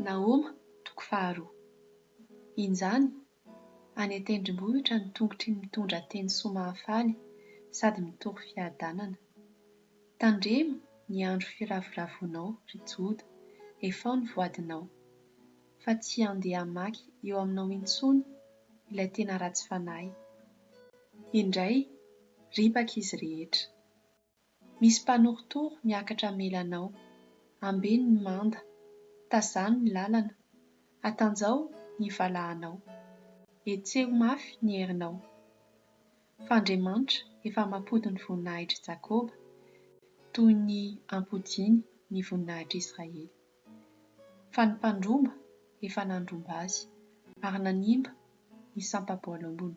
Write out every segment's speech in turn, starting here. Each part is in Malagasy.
Nahoma, toko faharoa. Injany, any an-tendrombohitra ny tongotry ny mitondra teny soa mahafaly sady mitory fiadanana. Tandremo ny andro firavoravoanao, ry Joda, efao ny voadinao, fa tsy handeha hamaky eo aminao intsony ilay tena ratsy fanahy. Indray, ripaka izy rehetra. Misy mpanorotoro miakatra hamela anao. Ambeno ny manda. Tazano ny lalana. Atanjao ny valahanao. Hetseho mafy ny herinao. Fa Andriamanitra efa mampody ny voninahitr'i Jakoba toy ny ampodiany ny voninahitr'i Israely. Fa ny mpandromba efa nandromba azy ary nanimba ny sampa-boalambony.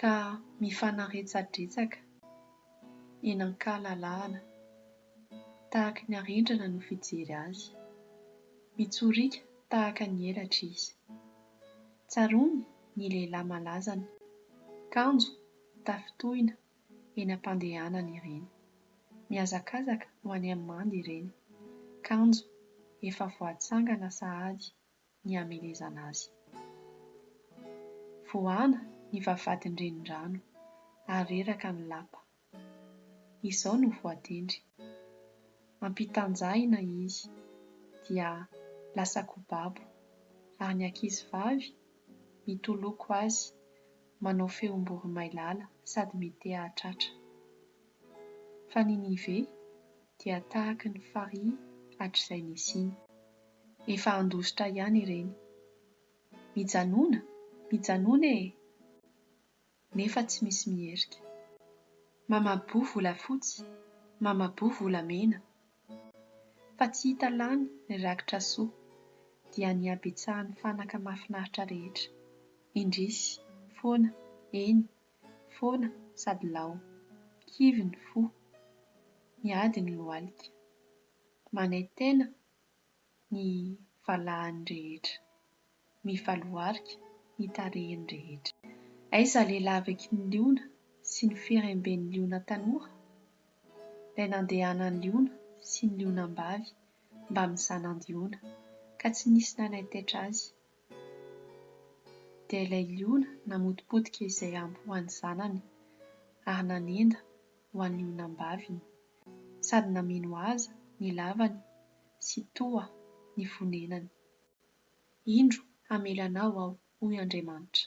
ka mifanaretsadretsaka eny an-kalalahana, tahaka ny arendrana no fijery azy. Mitsoriaka tahaka ny elatra izy. Tsaroany ny lehilahy malazany, kanjo tafitohina eny am-pandehanany ireny. Mihazakazaka ho any amin'ny manda ireny, kanjo efa voatsangana sahady ny hamelezana azy. Voahana ny vavahadin'ny renirano ary reraka ny lapa. Izao no voatendry, Ampitanjahina izy dia lasa kobabo, ary ny ankizivavy mitoloko azy manao feom-boromailala sady mitea-hatratra. Fa Ninive dia tahaky ny farihy hatrizay nisiany. Efa handositra ihany ireny. Mijanona, mijanona e! Nefa tsy misy miherika. Mamaboa volafotsy, mamaboa volamena. Fa tsy hita lany ny rakitra soa, dia ny habetsahan'ny fanaka mahafinaritra rehetra. Indrisy, foana, eny, Foana sady lao. Kivy ny fo. Miady ny lohalika. Manaintena ny valahany rehetra. Mivaloharika ny tarehiny rehetra. Aiza ilay lavaky ny liona sy ny firemben'ny liona tanora? Ilay nandehanan'ny liona sy ny lionam-bavy mbamin'ny zanany liona ka tsy nisy nanaintaitra azy Dia ilay liona namotipotika izay ampy ho an'ny zanany, ary nanenda ho an'ny onam-baviny, sady nameno azy ny lavany sy toa ny fonenany. Indro hamela anao aho, hoy Andriamanitra.